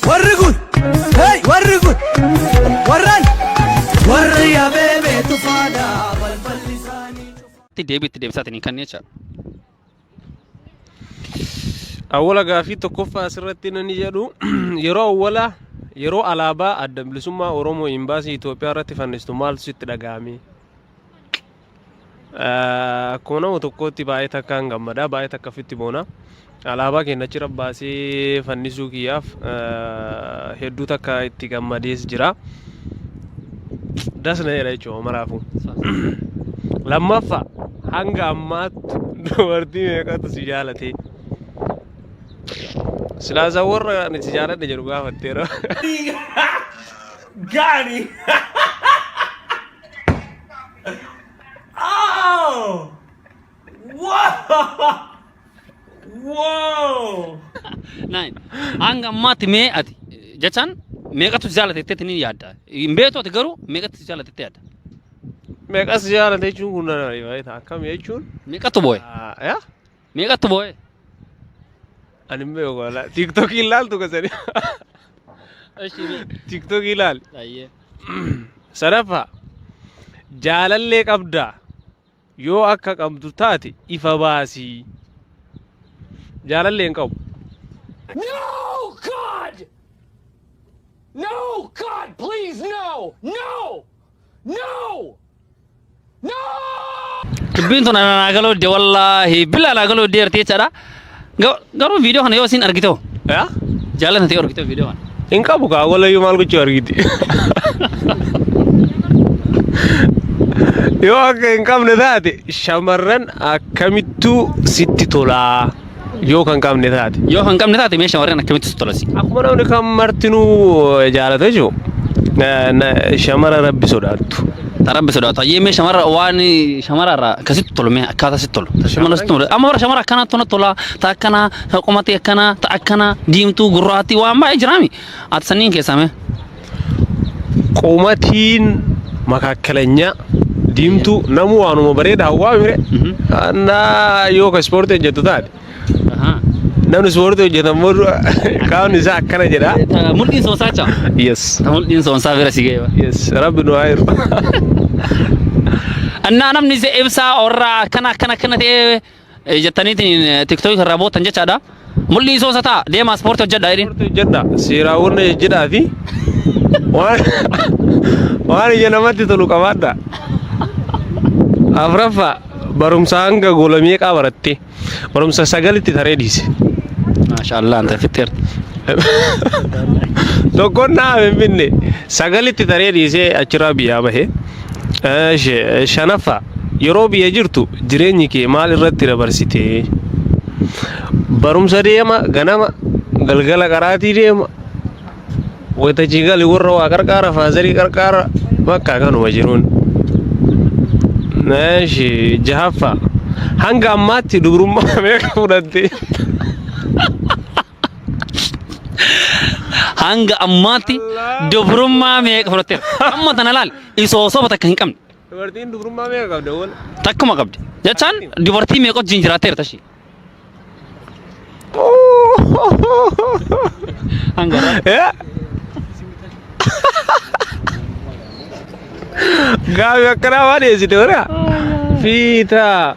Warri kun, hey, warri kun, warran, warri abeebee tufaadha balballi isaanii. itti deebii itti deebisaati ni kanneen jecha. Awwala gaaffii tokkoffaa asirratti nani jedhu yeroo awwala yeroo alaabaa adda bilisummaa Oromoo imbaasii Itoophiyaa irratti fannistu maaltu sitti dhaga'ame? Akkuma nama tokkootti baay'ee takkaan gammada, baay'ee takka ofitti boona. Alaabaa keenya achirra baasee fannisuu kiyyaaf hedduu takka itti gammadees jira. Das na jedha jechuudha maraafuu. Lammaffaa hanga ammaatti dubartii meeqatu si jaalatee? Silaasaa warra ani si jaaladha jedhu gaafatteera. Gaani. Oh! Whoa! Whoa! Nine. Hanga ammaatti mee ati jechaan meeqatu si jaalate jetteetti ni yaadda. Hin beektu ati garuu meeqatu si jaalate jettee yaadda. Meeqas jaalate jechuun kun nana baay'ee ta'a. Akkam jechuun? Meeqatu booye? Ah, yaa? Meeqatti boo'ee? Ani hin beeku wala. Tiktokii hin laaltu kasani. Eshi mee. Tiktokii laali. Ayyee. Sadaffaa jaalallee qabdaa yoo akka qabdu taate ifa baasii. Jaalallee hin qabu. No, God! No, God, please, no! No! No! dubbiin tun ana naa galuu dide wallaahi billa naa galuu dide arti jechaadha Ga- garuu viidiyoo kana yoo isin argite hoo yaa jaalatan ta'e argite viidiyoo kana hin qabu kaa walayyuu maal gochuu argiti yoo akka hin qabne taate shamarran akkamittuu sitti tolaa Yoo kan qabne taate. Yoo kan qabne taate mee shamarran akkamitti si tolasi? Akkuma namni kan martinuu jaalatu jechuudha. Shamara rabbi sodaattu. Ta rabbi sodaatu. Hayyee mee shamarra waan shamarra irraa akkasitti tolu mee akkaataa sitti tolu. Ta shamarra sitti tolu. Amma bara shamarra akkanaa tona tola. Ta akkanaa ta qomatii akkanaa ta akkanaa diimtuu gurraattii waan baay'ee jiraami. Ati sanniin keessaa mee? qumatiin makaakalanya diimtuu namuu waanuma bareeda hawwaa mire annaa yoo ka ispoortii hojjetu taate Ahaa. namni ispoortii hojjetu ammoo qaamni isaa akkana jedha Ta- Mul'iin soonsaa jaa. yes Ta mul'iin soonsaa bira si ga'e. yes rabbi nu haa hiru Annaa namni se- ibsaa orraa akkana akkana akkana ta'ee jettaniitiin tiktook irraa bootan jechaadha. Mul'ii soosa ta'a deemaa ispoortii hojjedha jedhin. Ispoortii hojjedha seeraawwan ejjedhaa fi waan waan ija namatti tolu qabaadha. Afraffaa barumsa hanga gola meeqaa baratte barumsa sagalitti taree dhiise. Maashaallah anta fixxeerti. Tokkoon naa finfinne sagalitti taree dhiisee achirraa biyyaa bahe. Shanaffaa yeroo biyya jirtu jireenyi kee maal irratti dabarsite? Barumsa deema ganama galgala qaraatii deema wayita achi gali warra waa qarqaara faazarii qarqaara bakka kanuma jiruun. Jahaffaa hanga ammaatti dubrummaa meeqa fudhatte? Hanga ammaatti dubrummaa meeqa fudhatteera? Amma tana laal isoo soba takka hin qabne. Dubartiin dubrummaa meeqa qabda wal? Takkuma qabdi. Jechaan dubartii meeqa wajjin jiraatteera tashii? Hanga irraa. Gaafi akkanaa waan dhiyeessite wara? Fiitaa.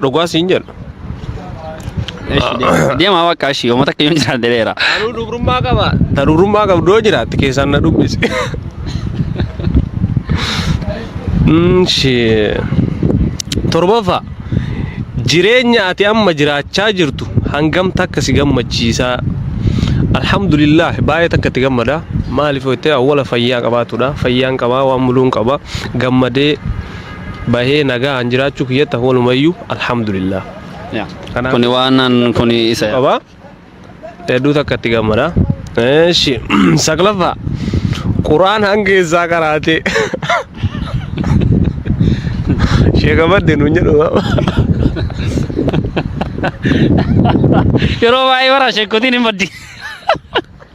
Dhugaa siin jedha. Deemaa bakka ishii uummata akka yoon jiraate dheera. Anuu dubrummaa qaba. Ta dubrummaa qabdu yoo jiraatte keessaan na dubbisi. Mm, shee. Torbaffaa. Jireenya ati amma jiraachaa jirtu hangam takka si gammachiisaa? Alhamdulillah baay'ee takka itti gammada. Maaliif jettee awwala fayyaa qabaatudha. Fayyaan qabaa waan muluun qaba. Gammadee bahee nagaan jiraachuu kiyyatti akka walumayyuu alhamdulillah. Kanaaf- Kuni waan an- kuni isa. qaba. Hedduu takka itti gammada. Eeshi saglaffaa quraan hanga eessaa qaraate. Sheeka badde nuun jedhu. Yeroo baay'ee bara sheekotiin hin baddi.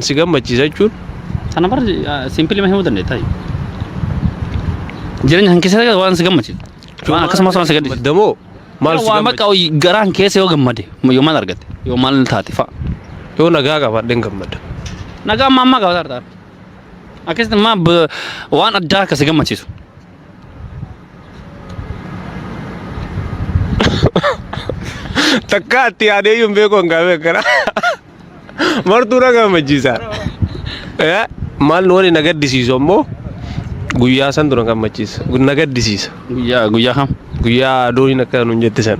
Si gammachiisa jechuun Sana bar simpili ma himuu dandeetta. Jireenya kan keessatti waan si gammachiisu. Waan akkasumas waan si gaddisiisu. Maddamoo maal si Waan bakka gammachiisa? garaan keessa yoo gammade yoo maal argatte yoo maal taate fa'a. Yoo nagaa qabaadheen gammada. Nagaa ammaa ammaa gabataa argaa. Akkasitti ammaa waan addaa akka si gammachiisu. Takka atti yaadee iyyuu hin beeku hin gaafee akkana. Martuu na gammachiisa. Eh, Maal nu waliin na gaddisiisu ammoo guyyaa santu na gammachiisa. Na gaddisiisa. Guyyaa guyyaa kam? Guyyaa dooniin akka nuun jette san.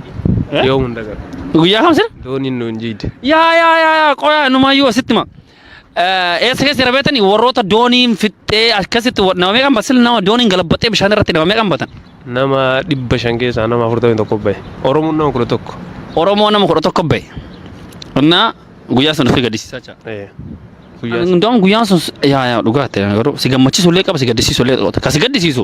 Eh? Yoo hunda gara. Guyyaa kam sir? Dooniin nuun jiidde. Yaa yaa yaa yaa qoyaa numaayyuu asitti ma. Eessa keessa jira beektanii warroota dooniin fixxee akkasitti nama meeqan basil nama dooniin galabbaxee bishaan irratti nama meeqan batan. Nama dhibba shan keessaa nama afurtamii tokko bahe. Oromoon nama kudha tokko. Oromoo nama kudha tokko bahe. Innaa guyyaa sana ofii gaddisiisaa jira. Hundaa'uun guyyaan sun yaa yaa dhugaa ta'e garuu si gammachiisu illee qaba si gaddisiisu illee qaba. Kan si gaddisiisu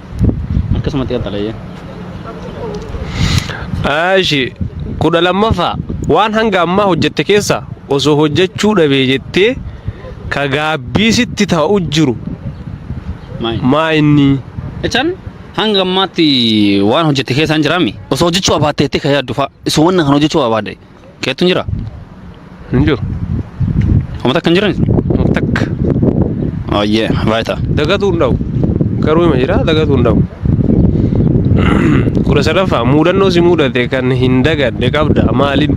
akkasumatti qaxxalayya. Ashi kudha lammaffaa waan hanga ammaa hojjette keessa osoo hojjechuu dhabee jettee ka gaabbii sitti ta'u jiru Maayini. maa inni Jechaan hanga ammaatti waan hojjette keessaan jiraami. Osoo hojjechuu abaatte jettee ka yaaddu fa'a. Osoo wanna kan hojjechuu abaadde. Keettu hin jiraa? Hin jiru. Homa takka hin jirani? Homa takka. Ayyee baay'ata. Dagatuu hin dhabu. Garuu hima jira dagatuu hin dhabu. Kudha sadaffaa muudannoo si muudate kan hin dagadde qabda maalin?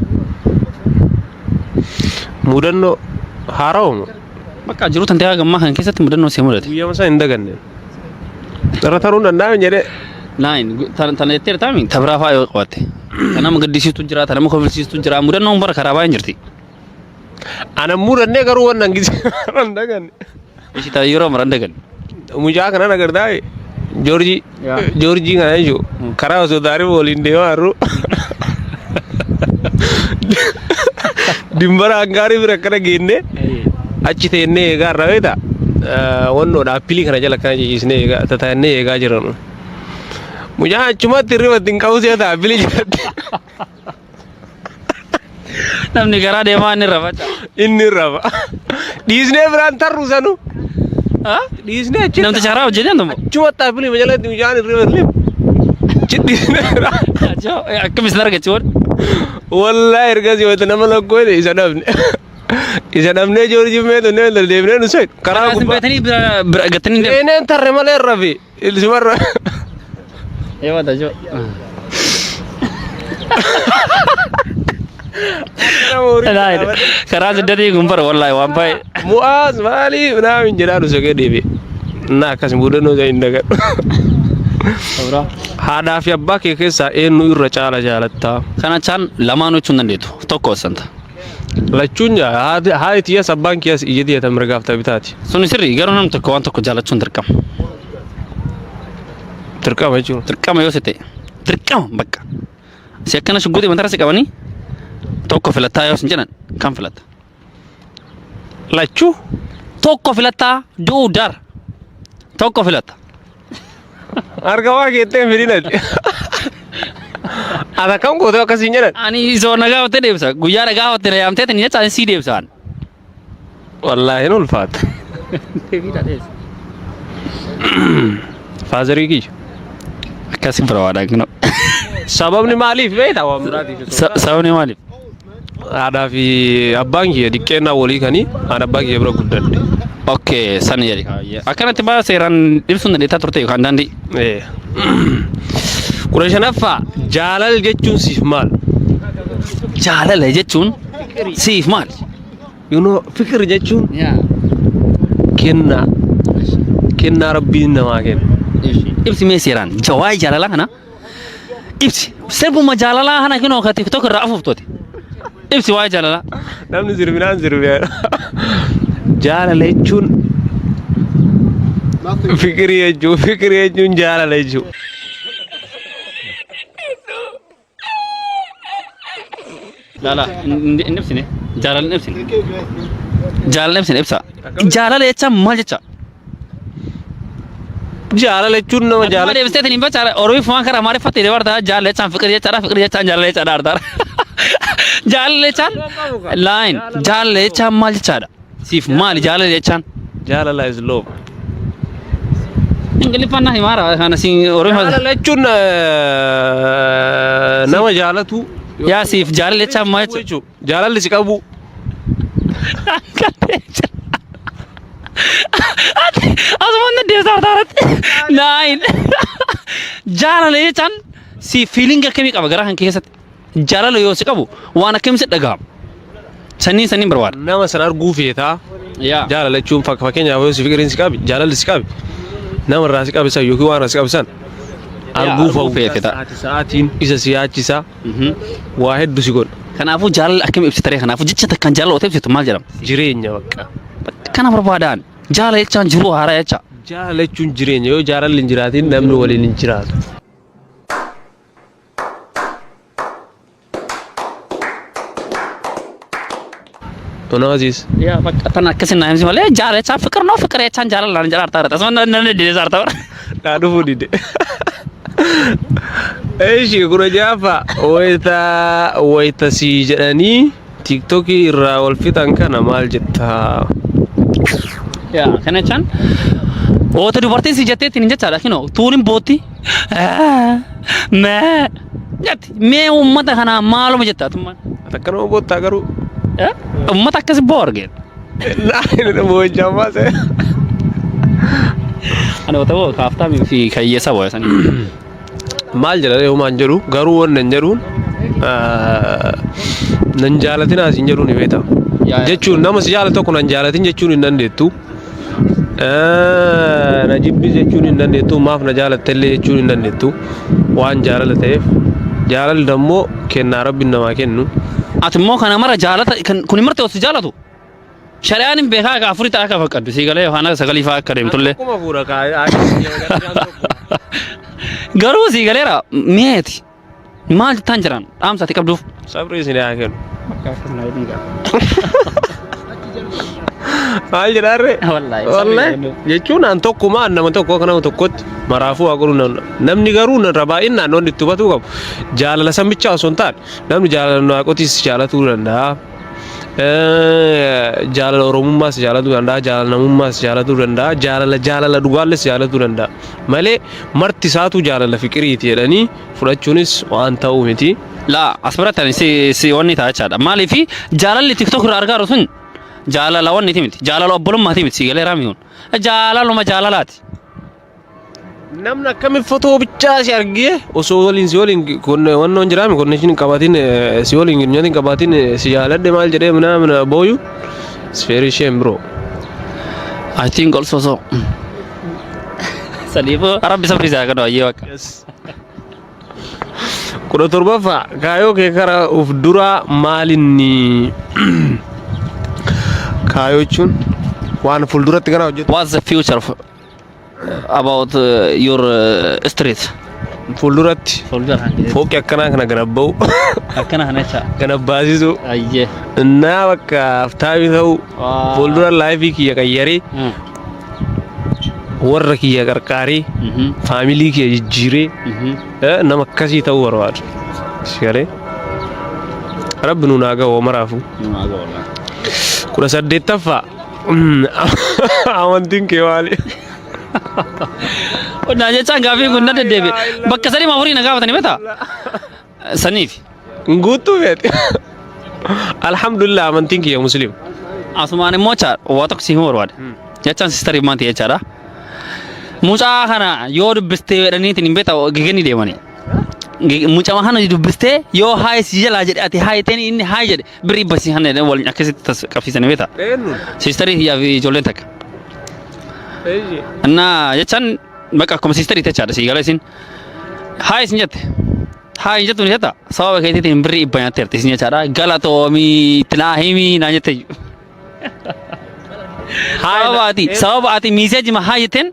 Muudannoo haarawa moo? Bakka jiru tantee haga ammaa kana keessatti mudannoo si mudate. Guyyaa masaa hin daganne. Irra taruun danda'ame jedhee. Naayin tana jettee taami tabiraa fa'aa yoo qabatte. Kan nama gaddisiistu jira, kan nama kofalsiistu jira. Mudannoon bara karaa baay'een jirti. Ana mudannee garuu waan hin daganne. Ishii ta'a yeroo mara hin daganne. Mucaa kanan agartaa Joorjii Joorjii kana jechuun karaa osoo taarifa waliin deemaa jirru dimbara hangaarii bira akkana geenne achi teennee eegaa irraa beektaa wannoodha appilii kana jala akkana jijjiisnee eegaa tataannee eegaa jiranu. Mucaa achumatti hirriba ittiin qabu si'a ta'a appilii jalatti. Namni karaa deemaa inni irra faca. Inni irra faca. Dhiisnee biraan tarru sanu. Dhiisnee achi. Namticha karaa hojjetan immoo. Achuma taapilii majalatti bishaan irra lim. Achi dhiisnee biraan. Akkam isin argachi waan. Wallaahi ergasii wanta nama lakkoo isa dhabne. Isa dhabnee joorjii meetu inni wanta deebinee nu soyi. Karaa gubbaa. Beetanii gattanii deemu. Seeneen tarre malee irra fi. Ilsi warra. Ee mata jo. Karaa siddatii kun bara wallahi waan baay'ee. Mu'aaz maali naamin jedhaa nu sokee deebi. Naa akkas mudannoo isa hin dagadhu. Sobraa. Haadhaa fi abbaa kee keessaa eenyu irra caala jaalattaa? Kana chaan lamaan hojjechuu hin dandeettu. Tokko santa. Lachuun haati tiyyas abbaan kiyyas ija tiyya ta mirgaaf ta bitaati. Suni sirri garuu namni tokko waan tokko jaalachuun dirqama. Dirqama jechuun. Dirqama yoo si ta'e dirqama bakka. Si akkana shugguxii matarra si qabanii tokko filattaa yoo sin jedhan kan filatta. Lachuu Tokko filattaa du'uu dar. Tokko filatta. Harka waa keettee fidinati. Ata kam gootee akkasiin jedhan. Ani isoo na gaafatte deebisa. Guyyaa na gaafatte na yaamtee tani jecha ani sii deebisaan. Wallaahi hin ulfaata. Faazarii kiyya. Akkasi bira waadaan kino. Sababni maaliif beektaa waan biraatiif. Sababni maaliif? Haadhaa fi abbaan kiyya diqqeennaa walii kanii aan abbaa kiyya bira guddadhe. Okay, san jedhi kaayya. Akkanatti baa seeraan ibsuun dandeettaa turte yookaan daandii. Ee. Kudha shanaffaa jaalala jechuun siif maal? Jaalala jechuun siif maal? You know, fikir jechuun Yaa. kennaa. Kennaa rabbiin namaa kenna. Ibsi mee seeraan jawaayee jaalalaa kana Ibsi. Sirbuma jaalalaa kana kinoo ka TikTok irraa afuuftote. Ibsi waa'ee jaalalaa. Namni sirbinaan sirbee. Jaalala jechuun fikirii jechuun fikirii jechuun jaalala jechuun. Laala hin ibsine. Jaalala hin ibsine. Jaalala ibsine ibsa. Jaalala jecha maal jecha? Jaalala jechuun nama Jaalala jaalatu. ibsite hin ibsa. Oromiif waan karaa maariffatti illee bartaa jaalala jechaan fiqir jechaadha fiqir jechaan jaalala jechaadha artaara. Jaalala jechaan laayin jaalala jechaan maal jechaadha? Siif maali jaalala jechaan? Jaalala is love. Ingiliffaan na himaara kana siin Oromoo. Jaalala jechuun eh, nama jaalatu. Yaa siif jaalala jechaan maal jechuudha? jechuudha. Jaalalli si qabu. Asumaan deebisaa hartaarratti. Naayin. Jaalala jechaan siif fiilingi akkamii qaba garaa kan keessatti? Jaalala yoo si qabu waan akkamii si dhaga'ama? Sanniin sanniin barbaada. Nama san arguu feetaa Yaa. jaalala jechuun fak- fakkeenyaaf yoo si fiqiriin si qabi jaalalli si qabi nama irraa si qabisan yookiin waan irraa si qabisan arguu arguu fa'u feete ta'a. sa'aati sa'aatiin isa si yaachisa Mhm. waa heddu si godha Kanaafuu jaalala akkamii ibsitaree kanaafuu jecha takkaan jaalala otoo ibsitu maal jedhama? jireenya bakka Kana barbaadaan jaalala jechaan jiruu haaraa jecha. jaalala jechuun jireenya yoo jaalalli hin jiraatiin namni waliin hin jiraatu Anaa Aziiz. Yaa bakka tan akkasii naa himsi malee jaalachaa fiqir noo fiqir jechaan jaalalaan jedha artaa irratti. Asuma nan nan deedeessa artaa bara. Naa dhufuu dide. Eeshi kudha jaafa wayita wayita sii jedhanii. Tiiktokii irraa wal fixan kana maal jettaa? Yaa kana chan oota dubartiin si jettee ittiin hin jechaadha kinoo tuunin bootti mee jetti mee uummata kanaa maaluma jetta atummaan Takka nama boottaa garuu. uummata akkasi boo argeet Laayina nama hojjaa baase. ani oota boo kaaftaa fi kayyeessa boo sanii maal jedhanii humaan jedhu garuu wanni hin jedhuun nan jaalatinaa isin jedhuun ni beektaa. Jechuun nama si jaalatu tokko nan jaalatin jechuun hin dandeettu. Na jibbis jechuun hin dandeettu maaf na jaalattellee jechuun hin dandeettu waan jaalala ta'eef jaalalli immoo kennaa rabbiin namaa kennu. Ati immoo kana mara jaalata kun marti osoo jaalatu. Shari'aan hin beekaa akka afuritti akka fakkaddu sii galee yookaan akka sagalii fa'aa akka deemtullee. Akkuma fuura kaa'aa. Garuu sii galeera mi'eeti. Maal jettaan jiran dhaamsa ati qabduuf. Sabri isin haa kennu. Maal jedhaarre? Wallaahi, sabri Wallaahi. kennu. Jechuun an tokkuma an nama tokko akka nama tokkotti maraafuu haa godhu nan- namni garuu nan rabaa'in naannoon itti hubatuu qabu. Jaalala san bichaa osoo hin taane namni jaalala waaqotis jaalatuu danda'a. jaalala oromummaas jaalatuu danda'a jaalala namummaas jaalatuu danda'a jaalala jaalala dhugaalles jaalatuu danda'a malee marti isaatu jaalala fiqiriiti jedhanii fudhachuunis waan ta'u miti. laa as biratti ani si si wanni ta'a jechaadha maaliif jaalalli tiktok irraa argaaru sun jaalala wanniti miti jaalala obbolummaati miti si galeeraa miti kun jaalaluma jaalalaati Namni akkamiin fotoo bichaa si argee osoo waliin si waliin wannoon jiraame konneeshin hin qabaatiin si waliin girinyaan hin qabaatiin si jaaladhe maal jedhee minaa mina booyu sfeerii isheen biroo. I think also so. Saniifuu rabbi sabri isaa kan wayyee bakka. Kudha torbaffaa kaayoo kee karaa of duraa maalinni kaayoo jechuun waan fuulduratti kana hojjetu. What's the future of about uh, your uh, street fuulduratti folder kan jedhu fooqi akkanaa kana ganabba'u akkana kana jecha ganabbaasisu ayyee innaa bakka aftaabii ta'u Waa. fuuldura laayifii kiyya qayyarii Mm. warra kiyya qarqaarii Mhm. faamilii kiyya jijjiiree Mhm. eh, nama akkasii ta'uu barbaadu sigalee rabbi nuun haa ga'u maraafuu Numaa ga'u laa. kudha saddeettaffaa Amantiin kee maali? Naa jechaan gaaffii kun na deddeebi. Bakka sadii maa horii na gaafatanii beektaa? Saniif. Guutuu feeti. Alhamdulillah amantiin kiyya musliima. Asumaan immoo jechaadha. Waa tokko si himuu barbaada. Jechaan sistarii maanti jechaadha. Mucaa kana yoo dubbistee jedhaniitiin hin beektaa geganii deemanii. Mucama kana dubbistee yoo haayis jalaa jedhe ati haayiteen inni haay jedhe Birrii basii hanna jedhanii wal akkasitti tas qabsiisanii beektaa? Eenyuun? Siistarii hiyyaa fi ijoolleen takka. Eeyyee. Innaa jechaan bakka akkuma siistarii jechaadha sii gala isin. Haa isin jette. Haa hin jettu ni jetta. Sababa keetiitiin birrii dhibba nyaatteerti isin jechaadha. Galatoomii itti naa himii naa jette. Sababa ati sababa ati miiseejima haa jetteen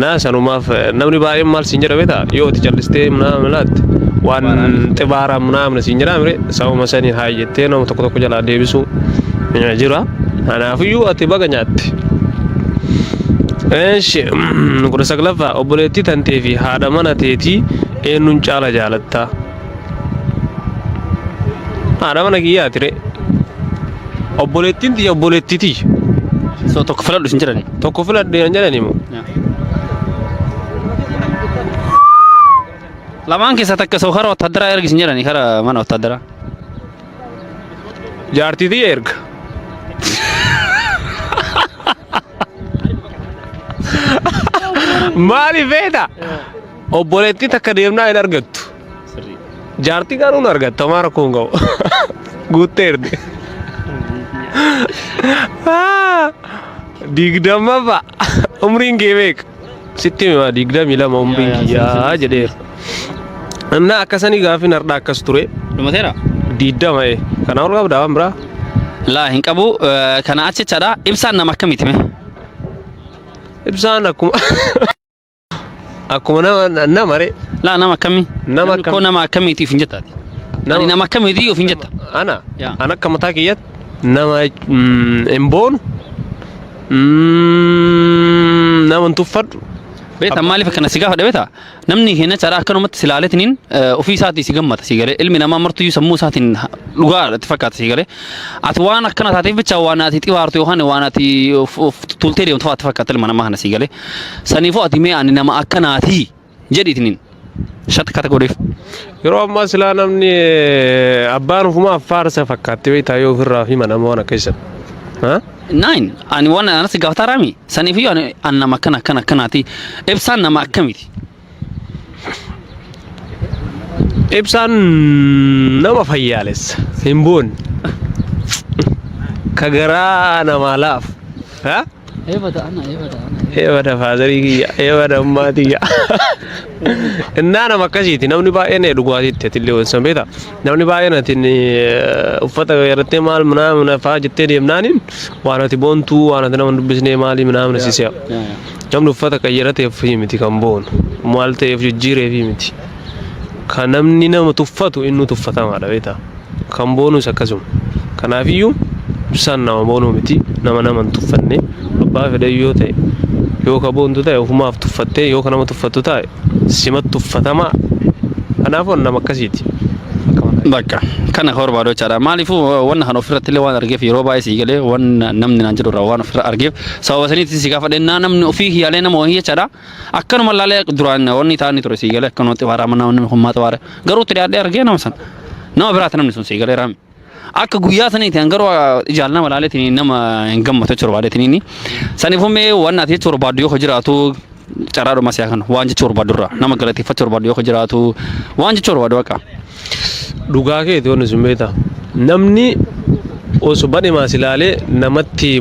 Naa sanumaaf namni baay'een maal siin jedha beektaa yoo itti callistee naamni laatte waan xibaara naamni siin jedhaa mire sababa saniin haa jettee nama tokko tokko jalaa deebisuu eh, jira. Kanaafiyyuu ati baga nyaatte. Eeshi kudha saglaffaa obboleettii tantee fi haadha mana teetii eenyuun caala jaalatta? Haadha mana kiyyaa ture. Obboleettiin tiyya obboleettii tiyya. So tokko filadhu isin jedhani. Tokko filadhe hin jedhani moo? Lamaan keessaa takka so kara wattaaddaraa ergi isin jedhani kara mana wattaaddaraa. Jaartii tiyya erga. Maaliif beekta? Obboleettii takka deemnaa hin argattu. Jaartii garuu hin argatta homaa rakkoo hin qabu. Guutteerti. Ah, Digdammaffaa umriin kee meeqa? Sitti hima digdamii lama umriin Yaa, yaa, kiyyaa sirrii, sirrii, jedheera. Innaa akkasanii gaaffiin hardhaa akkas ture. Dhumateera. Diiddama ee. Kana ol qabdaa waan biraa? Laa hin qabu. Eh, Kana achichadha. Ibsaan nama akkamiiti mee? Ibsaan akkuma. Akkuma nama nama re. Laa nama akkamii? Nama Namni akkam- koo nama akkamiiti ofiin jetta ati? Nama- Ani nama akkamiiti ofiin jetta? Ana. Yaa. Ana akka mataa kiyyaatti nama mm, hin boonu. mm, Nama hin tuffadhu. Beektaa maaliif akkana si gaafadha beektaa? Namni keenya caraa akkanumatti si ilaaletiniin ofii isaatii si gammada si galee ilmi namaa martuyyuu sammuu isaatiin dhugaa itti fakkaata si galee ati waan akkana taateef bicha waan ati xibaartu yookaan waan ati of- of tuultee deemtu fa'aa itti fakkaata ilma namaa kana si galee Saniifuu ati mee ani nama akkanaati jedhi itiniin. Shatti kata godheef. Yeroo ammaa silaa namni eh, abbaan ofumaaf faarsa fakkaatti beektaa yoo ofirraa fi mana waan akka isan. Ha? Nine ani waan anatti gaafataa raami. Saniifuu ani ani nama akkana akkana akkanaati. Ibsaan nama akkamiti? Ibsaan nama fayyaalessa hin boonne ka garaa namaa laafu. Ha? Eebata ana eebata ana. Eebada faazarii kiyya, eebada ammaa tiyya. Innaa nama akkasiiti namni baay'een dhugaatiitti atillee wansan beektaa. Namni baay'een atiin uffata irratti maal minaa minaa fa'aa jettee deemnaaniin waan ati boontuu waan ati nama hin dubbisnee maalii minaa minaa si se'a. Namni uffata qayyarateef miti kan boonu. Maal ta'eef jijjiireef miti. Kan namni nama tuffatu inni tuffatamaadha beektaa. Kan boonus akkasuma. Kanaafiyyuu ibsaan nama boonuu miti. Nama nama hin tuffanne. Abbaa fedhe yoo ta'e yoo ka boontu ta'e ofumaaf tuffattee yoo ka nama tuffattu ta'e simat tuffatamaa. Kanaafuu nama akkasiiti. Bakka kana hor baadochaadha. Maaliifuu wanna kan ofirratti illee waan argeef yeroo baay'ee sii galee waan namni naan jedhu irraa waan ofirra argeef Sababa saniitiin si gaafadhe naa namni ofii kiyyaalee nama wahii jechaadha. Akkanuma ilaalee duraan wanni taa'anii ture sii galee akkanuma xibaaraa manaa wanni hummaa xibaare. Garuu itti dhiyaadhee argee nama sana. Nama biraati namni sun sii galee raami. Akka guyyaa saniitiin garuu ijaan nama ilaaleetiin nama hin gammatu jechuudha baadeetiin. Saniif ummee waan ati jechuudha baaddu yoo jiraatu carraa dhumaa siyaa kana waan jechuudha barbaaddu irraa nama galateeffachuu barbaaddu yoo jiraatu waan jechuudha barbaaddu bakka. Dhugaa keeti wanni sun beektaa. Namni osoo badhimaas ilaalee namatti